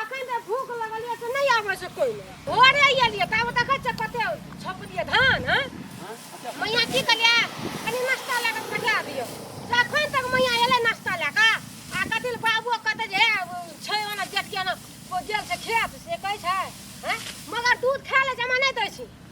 अखन तऽ भूख लगल यऽ से नहि आबै छै कोइ नहि भोरे एलियै तऽ आब देखै छियै कते छपलियै धान हँ मैया की कहलियै कनि नाश्ता लए कऽ पठा दियौ से अखन तक मैया एलै नाश्ता लए कऽ आ कथी लए बाबुओ कहतै जे हे ओ छै ओना जेठ के ओना ओ गेल छै खेत से कहै छै हँ मगर दूध खाय लए जमा नहि दै छै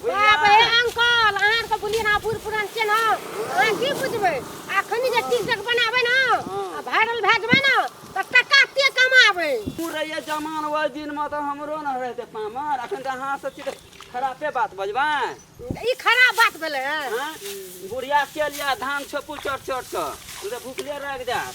बाप रे अंकल अहाँ आरके बुलियै ने बूढ़ पुरान छियै ने अहाँ की बुझबै अखन जे टीकटक बनाबै ने आ वायरल भए जेबै ने तऽ टका ते कमाबै तू रहिए जमान ओहि दिनमे तऽ हमरो ने रहते पामर अखन तऽ अहाँ सब चीज खरापे बात बजबै ई खराब बात भेलै हँ आँय? बुढ़िया के लिए धान छोपू चट चट कऽ तू तऽ भूखले रहि जायत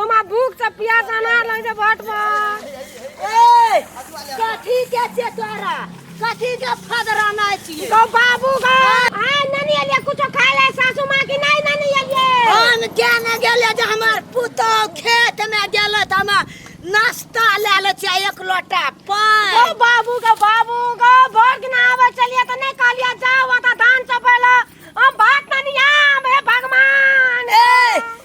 ओमा भूख से पिया जाना लग जे भट पर ए कथी के छे तोरा कथी के फदरा ना छी तो बाबू का हाय ननी एलिए कुछ खा ले सासू मां की नहीं ननी एलिए हम क्या न गेले जे हमार पुतो खेत में गेले त हम नाश्ता ले ले छी एक लोटा तो पान बाबू का बाबू का भर के ना आवे चलिए तो नहीं कहलिए जाओ वता धान चपेला हम भात ननी आम हे भगवान ए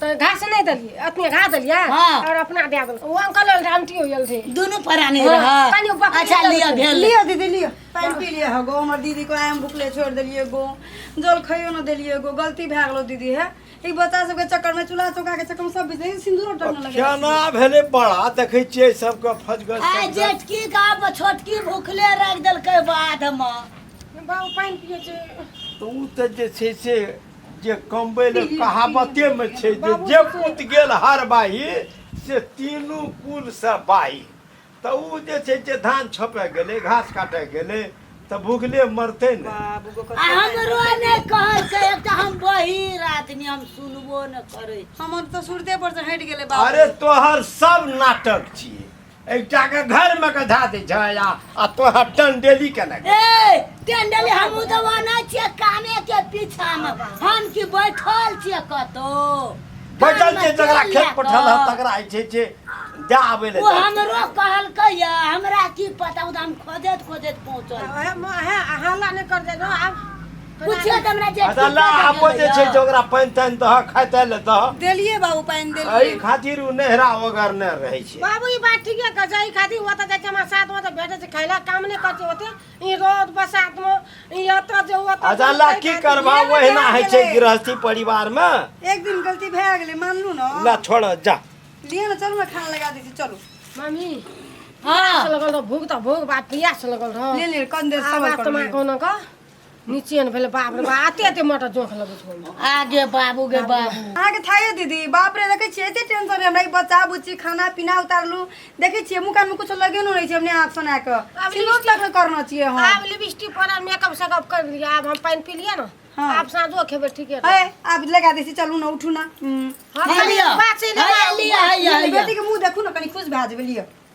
तो घास नहीं दलिए अपने घास दलिए हाँ। और अपना दे दल वो अंकल और आंटी हो गल थे दोनों पराने हाँ, रहा कनी बकरी अच्छा दल लिया थे। भेल लियो दीदी लियो पानि पी लियो हो गो हमर दीदी को आय हम भुखले छोड़ देलिए गो जल खइयो न देलिए गो गलती भए गेलो दीदी है ई बच्चा सबके चक्कर में चूल्हा चौका के चक्कर में सब बीत गई सिंदूर टकने लगे केना भेलै बड़ा देखै छियै सबके फजगर आ सजगर। जेठकी का छोटकी भूखले रख देलकै बाध में बाबू पानी पिए छे तऽ ओ तऽ जे छै से जे कमबै ले कहावते में छै जे जे पुत गेल हर बाही से तीनू कुल से बाही तऽ ओ जे छै जे धान छपे गेलै घास काटे गेलै तऽ भूखले मरतै ने आ हमरो नहि कहै छै एकटा हम बहिर आदमी हम सुनबो नहि करै छी हमर तऽ सुरते पर से हटि गेलै बाबू अरे तोहर सब नाटक छियै एकटा के घर में के धा दे छै आ आ तोहर टंडेली के लगे ए टेंडली हम तो वना छिए काने के पीछा में हम की बैठल छिए कतो बैठल छै जकरा खेत पठल ह तकरा होइ छै जे जा आबै ले ओ जाइ छै। हमरो कहलकै या हमरा की पता उ तऽ हम खोजत खोजत पहुंचल ओहे म- ओहे हल्ला नहि कर दे आब पूछियो त हमरा जे अच्छा ला आबो जे छै जे ओकरा पानि तानि दह खाय ताय ले दह देलिए बाबू पानि एहि देलिए खातिर ओ नहरा ओगर नहि रहै छै बाबू ई बात ठीके कह छै ई खातिर ओतऽ जाइ छै हमरा साथ मे तऽ भेटै छै खैला काम नहि करते ओते ई रोड बसात मे ई एतऽ जे ओतऽ अच्छा ला की करबा ओहिना होइ छै गृहस्थी परिवार मे एक दिन गलती भए गेलै मानलू ने ला छोड़ जा लिए ने चलू ने खाना लगा दै छी चलू मम्मी हाँ प्यास लगल रह भूख तऽ भूख बात प्यास लगल रह ले ले कन देर आवाज सबर तऽ करू मार कोनो का नीचे ने भेले बाप रे बा आते आते मटर जोख लगे छो आगे बाबू गे बाबू अहाँ के थाहे दीदी बाप रे देखे छियै एते टेंशन हमरा ई बच्चा बुच्ची खाना पीना उतारलू देखे छियै मुँह कान में कुछ लगे नहीं छै हमने हाथ सुना के अब सिलोट लग के करना चाहिए हम आब लिपस्टिक पर मेकअप सेकअप कर लिया आब हम पानी पी लिए ना हाँ। आब साँझो खेबे ठीके है है आप लगा देसी चलू ना उठू ना हम्म। हम है लिया बात से है लिया है लिया, है लिया बेटी के मुंह देखू ना कनी खुश भए जेबै लिअ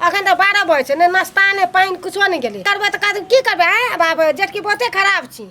अखन तऽ बारह बजे छै ने नाश्ता ने पानि कुछो नहि गेलै करबै तऽ की करबै आँय बाप जेठकी बहुते खराब छी